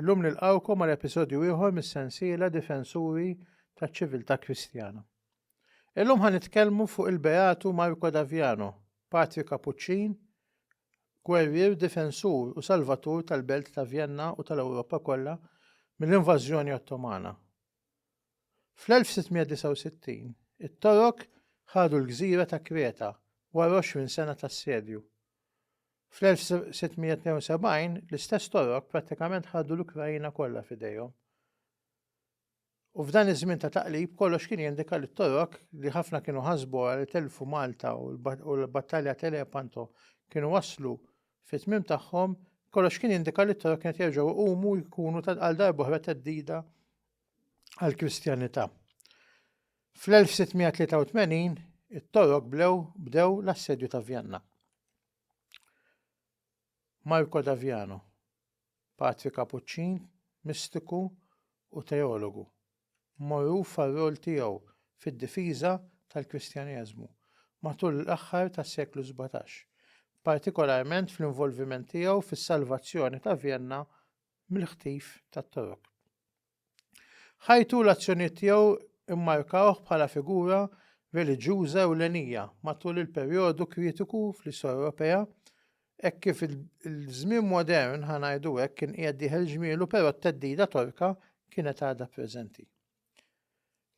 Illum nilqgħukom għal episodju ieħor mis-sensiela Difensuri taċ-Ċiviltà Kristjana. Illum ħa nitkellmu fuq il-Beatu Marco Daviano, patri Kapuċċin, gwerrier difensur u salvatur tal-belt ta' Vjenna u tal-Ewropa kollha mill-invażjoni Ottomana. Fl-1669, it-Torok ħadu l-gżira ta' Kreta wara 20 sena ta' assedju. Fl-1672, l-istess Torok prattikament ħadu l-Ukraina kollha f'idejhom. U f'dan iż-żmien ta' taqlib kollox kien jindika li t-Torok li ħafna kienu ħasbu li telfu Malta u l-battalja Telepanto kienu waslu fit-tmiem tagħhom, kollox kien jindika li t-Torok kienet jerġgħu jqumu jkunu għal darba oħra teddida għall-Kristjanità. Fl-1683, it-Torok blew bdew l-assedju ta' Vjanna. Marco Daviano, patri Kapuċċin, mistiku u teologu, mogħruf għar-rol tiegħu fid-difiża tal-Kristjaneżmu matul l-aħħar tas-seklu sbatax, partikolarment fl-involviment tiegħu fis-salvazzjoni ta' Vjenna mill-ħtif tat-Torok. Ħajtu u l-azzjonijiet tiegħu mmarkawh bħala figura reliġjuża ewlenija matul il-perjodu kritiku fl-istorja Ewropea hekk kif il-żmien modern, ħa ngħidu hekk, kien qiegħed jieħel ġmielu però t-theddida Torka kienet għadha preżenti.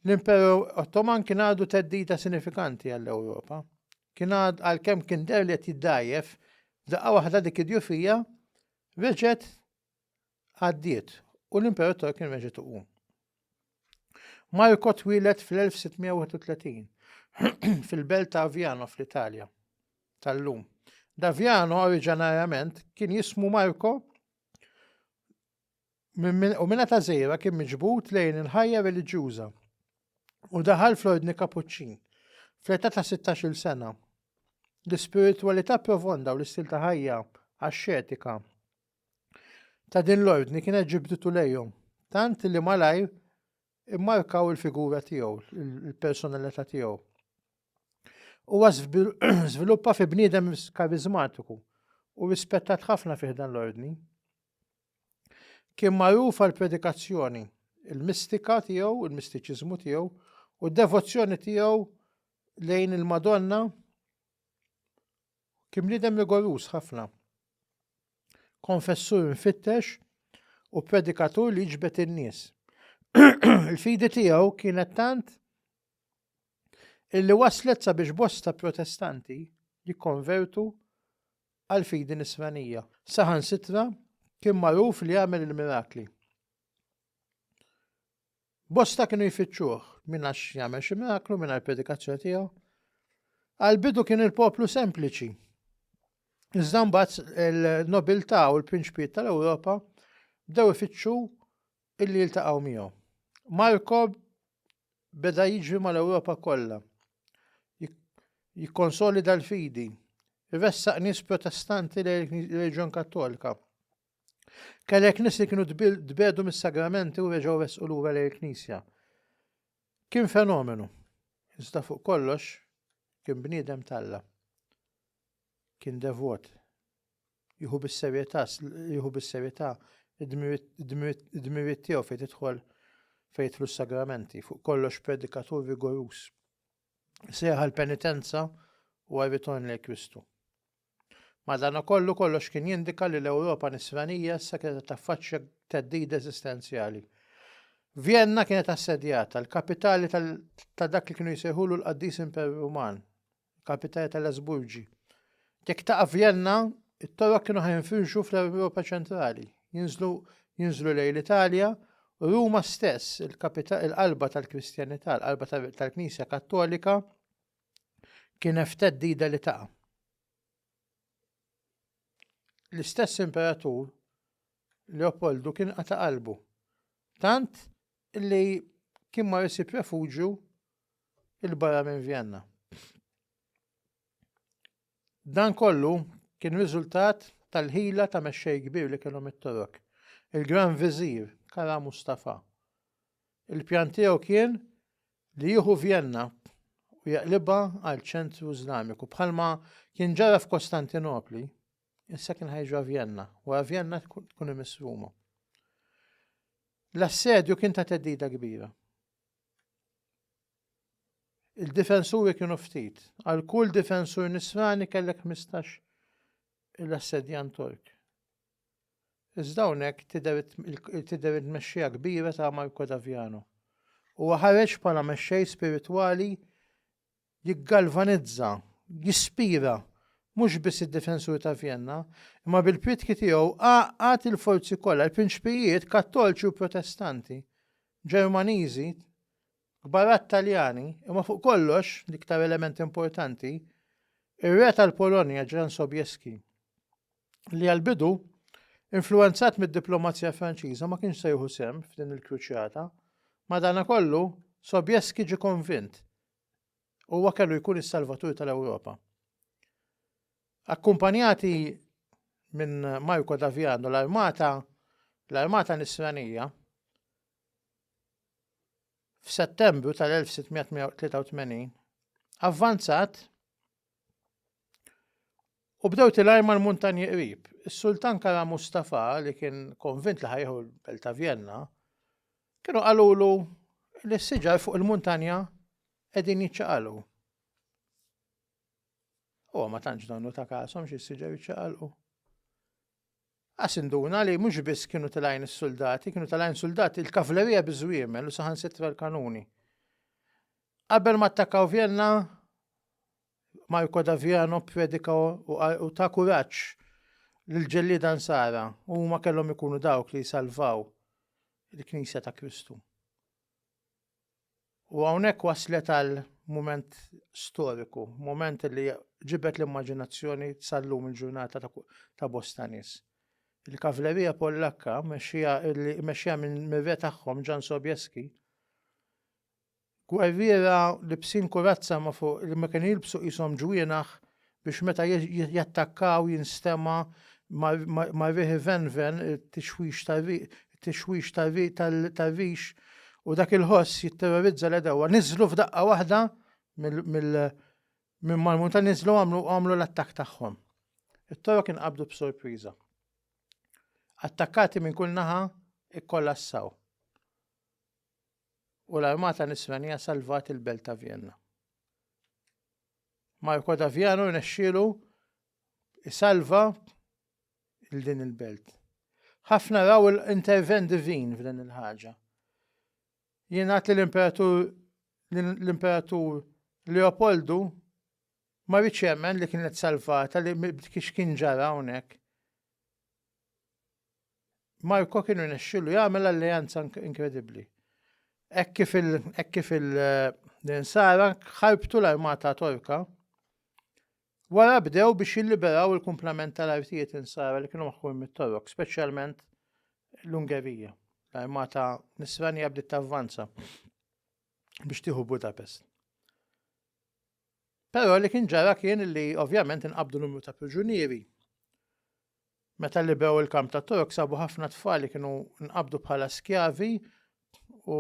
L-Imperu Ottoman kien għadu theddida sinifikanti għall-Ewropa. Kien għad għalkemm kien deher li qed jiddgħajjef, daqqa waħda dik id-djufija reġgħet għaddiet u l-imperator kien reġgħet iqum. Marko twieled fl-1631 fil-belt ta' Aviano fl-Italja tal-lum. Daviano oriġinarjament kien jismu Marko u minna ta' zejra kien miġbut lejn il-ħajja reliġjuża u daħal fl-ordni kapuċċin fl-età ta' 16-il sena. L-ispiritualità profonda u l-istil ta' ħajja għax-xetika ta' din l-ordni kienet ġibditu lejhom, tant li malajr immarkaw il-figura tiegħu, il-personalità tiegħu. Huwa żviluppa fi bniedem karizmatiku u rispettat ħafna fih dan l-ordni. Kien magħruf għal predikazzjoni, il-mistika tiegħu, il-mistiċiżmu tiegħu u d-devozzjoni tiegħu lejn il-Madonna kien bniedem rigorus ħafna. konfessur mfittex u predikatur li ġbet in-nies. Il-fidi tiegħu kienet tant illi waslet sabiex bosta protestanti jikkonvertu għal fidi nisranija. Saħan sitra kien magħruf li jagħmel il-mirakli. Bosta kienu jfittxuh minn għax jagħmel xi miraklu minn għall-predikazzjoni tiegħu. Għal-bidu kien il-poplu sempliċi. Iżda mbagħad il-nobiltà u l-prinċpijiet tal-Ewropa bdew ifittxu illi jiltaqgħu miegħu. Marko beda jiġri mal-Ewropa kollha. Jikkonsolida l-fidi. Ressaq nies protestanti lejn il-reġjon kattolika. Kellek nies li kienu tbedu mis-sagramenti u reġgħu resqu lura lejn il-Knisja. Kien fenomenu, iżda fuq kollox kien bniedem talla. Kien devot. Jieħu bis-serjetà, jieħu bis-serjetà id-dmiriet tiegħu fejn tidħol fejn jidħlu s-sagramenti, fuq kollox predikatur rigorus. Seħħa l-penitenza u għarriton lejn Kristu. Madanakollu, kollox kien jindika li l-Ewropa Nisranija issa kienet qed taffaċċja theddida eżistenzjali. Vjenna kienet assedjata, l-kapitali ta' dak li kienu jsejħulu l-Qaddis Imperu Ruman, kapitali tal-Asburgi. Jekk taqa' Vjenna, it-Torok kienu ħajnfirxu fl-Ewropa ċentrali, jinżlu jinżlu lejn l-Italja, u Ruma stess, il-qalba tal-Kristjanità, l-qalba tal-Knisja Kattolika, kienet f'theddida li taqa'. L-istess imperatur Leopoldu kien qata' qalbu, tant li kien mar isib refuġju il-barra minn Vjenna. Dan kollu kien riżultat tal-ħila ta' mexxej kbir li kellhom it-Torok, il-Gran Viżir Kara Mustafa. Il-pjan tiegħu kien li jieħu Vjenna u jaqlibha għal ċentru Iżlamiku. Bħalma kien ġara f'Kostantinopli, issa kien ħajġra Vjenna, wara Vjenna tkun imiss Ruma. L-assedju kien ta' teddida kbira. Il-difensuri kienu ftit. Għal kull difensur nisrani kellek 15 l-assedjan Tork. Iżda hawnhekk tidher it-tmexxija kbira ta' Marco Daviano. Huwa ħareġ bħala mexxej spiritwali jiggalvanizza, jispira, mhux biss id-difensuri ta' Vjenna, imma bil-priedki tiegħu għaqqad il-forzi kollha, il-prinċpijiet Kattolċi u Protestanti, Ġermaniżi, kbarat Taljani, imma fuq kollox, l-iktar element importanti, ir-Re tal-Polonja Ġran Sobieski. li għall-bidu, influwenzat mid-diplomazija Franċiża ma kienx se jieħu sehem f'din il-kruċjata, madanakollu Sobieski ġie konvint huwa kellu jkun is-salvatur tal-Ewropa. Akkumpanjati minn Marco Daviano l-armata l-armata nisranija f'Settembru tal-1683 avvanzat U bdew tilaj mal-muntanji qrib. Is-Sultan Kara Mustafa li kien konvint li ħajħu l-belt ta' Vjenna, kienu qalulu li s-siġar fuq il-muntanja qegħdin jiċċaqalqu. Huwa ma tantx donnu ta' kasom xi s-siġar jiċċaqalqu. Qas induna li mhux biss kienu tal-għajn is-suldati, kienu tal-għajn suldati il-kavlerija biż-żwiemel u saħansitra l-kanuni. Qabel ma attakkaw Vjenna, Marko Daviano predika u ta' kuraġġ l-ġellida nsara u ma kellhom ikunu dawk li salvaw il-Knisja ta' Kristu. U hawnhekk waslet għal mument storiku, mument li ġibed l-immaġinazzjoni sal-lum il-ġurnata ta' bosta nies. Il-kavlerija Pollakka, mexxija mir-re tagħhom Jan Sobieski, gwerriera libsin kurazza ma' fuq li ma kienu jilbsu qishom ġwienaħ biex meta jattakkaw jinstema' ma' riħi venven it-tixwix tar-rix u dak il-ħoss jitterrorizza l-għedewwa. Niżlu f'daqqa waħda minn mal-muntanji niżlu u għamlu l-attakk tagħhom. It-Torok inqabdu b'sorpriża. Attakkati minn kull naħa ikkollassaw u l-armata Nisranija salvat il-belt ta' Vjenna. Marco Daviano rnexxielu isalva il din il-belt. Ħafna raw l-intervent divin f'din il-ħaġa. Jingħad li l-imperatur l-imperatur Leopoldu ma rridx jemmen li kienet salvata li kiex kien ġara hawnhekk. Marko kien irnexxilu jagħmel alleanza inkredibbli. Hekk kif il hekk kif il l-insara ħarbtu l-armata Torka, wara bdew biex jilliberaw il-kumplament tal-artijiet insara li kienu maħkur mit-Torok, speċjalment l-Ungerija. L-armata Nisranija bdiet tavvanza biex tieħu Budapest. Però li kien ġara kien li ovvjament inqabdu numru ta' priġunieri. Meta liberw il-kamp ta' Torok sabu ħafna tfal li kienu nqabdu bħala skjavi u,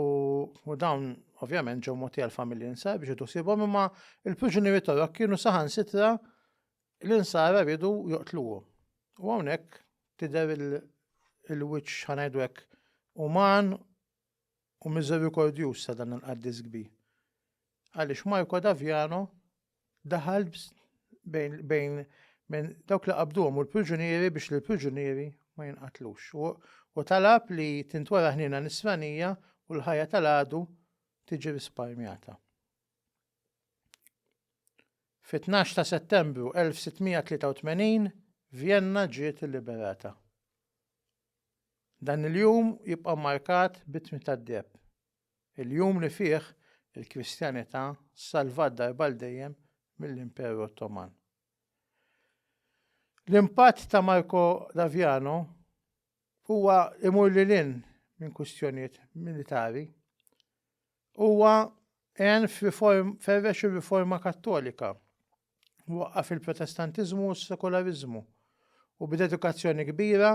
u dawn ovvjament ġew moti għal familji nsar biex idu sibhom imma il-priġunieri Torok kienu saħan sitra l-insara ridu joqtluhom. U hawnhekk tidher il-wiċċ ħanajdu hekk uman u miżerikordjuż ta' dan il-qaddis kbir. Għaliex Marco Daviano daħal bejn, bejn minn dawk li qabduhom u l-priġunieri biex l-priġunieri ma jinqatlux. U, u talab li tintwera ħnina nisranija u l-ħajja tal-għadu tiġi risparmjata. Fit-12 ta' Settembru 1683, Vienna ġiet liberata. Dan il-jum jibqa' mmarkat bit-tmiem tad-deheb, il-jum li fih il-Kristjanità salvat darba għal dejjem mill-Imperu Ottoman. L-impatt ta' Marco d'Aviano huwa imur lil hinn minn kwistjonijiet militari. Huwa għen f'riform ferrex ir-riforma Kattolika waqqaf il-Protestantiżmu u s-Sekulariżmu u b'dedikazzjoni kbira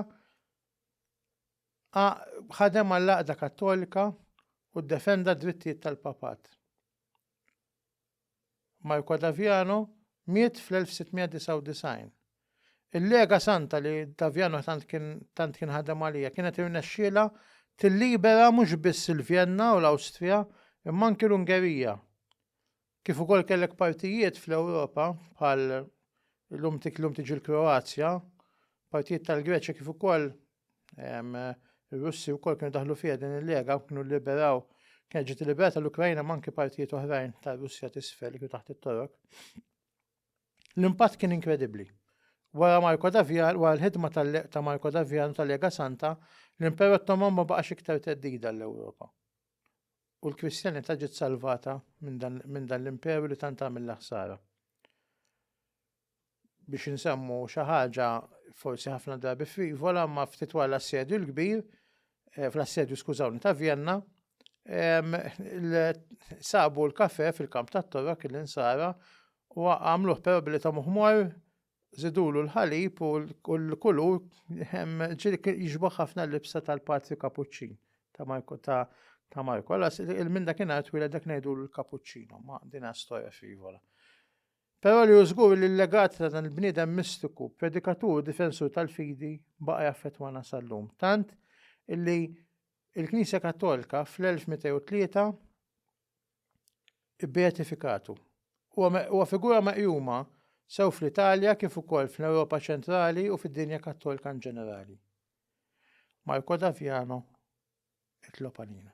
ħadem għall-Għaqda Kattolika u ddefenda d-drittijiet tal-Papat. Marco Daviano miet fl-1699. Il-Lega Santa li Daviano tant kien tant kien ħadem għalija kienet irnexxiela tillibera mhux biss il-Vjenna u l-Awstrija imma anki l-Ungerija. Kif ukoll kellek partijiet fl-Ewropa bħal illum tik illum tiġi l-Kroazja, partijiet tal-Greċja kif ukoll ir-Russi wkoll kienu daħlu fiha din il-lega kienu liberaw kienet ġiet liberata l-Ukrajna manki partijiet oħrajn tar-Russja tisfel kienu taħt it-Torok. L-impatt kien inkredibbli. Wara Marko Davjan, wara l-ħidma ta' Marko Davjan tal-Lega Santa, l-Imper Ottoman ma baqax iktar teddida l-Ewropa. U l-Kristjanità ġiet salvata minn dan l-imperu li tant għamilha ħsara. Biex insemmu xi ħaġa forsi ħafna drabi frivola ma ftit wara l-assedju l-kbir, eh, fl-assedju skużawni ta' Vjenna, sabu l-kafe fil-kamp tat-torok il-insara u għamluħ però billi ta' muħmor Żidulu l-ħalib u l-kulur ġieli kien jixbaħ ħafna l-libsa tal-Patri Kapuċċin ta' Marko ta' ta' Marko. Alla minn dak inhar twila dak ngħidulu l-Kapuċċino, ma din storja frivola. Però li użgur li l-legat ta' dan il-bniedem mistiku, predikatur u difensur tal-fidi baqa' jaffettwana sal-lum. Tant illi il-Knisja Kattolika fl-1203 Ibbeatifikatu. Huwa figura meqjuma sew fl-Italja kif ukoll fl-Ewropa Ċentrali u fid-dinja Kattolika inġenerali. Marco D'Aviano, It-Lopanina.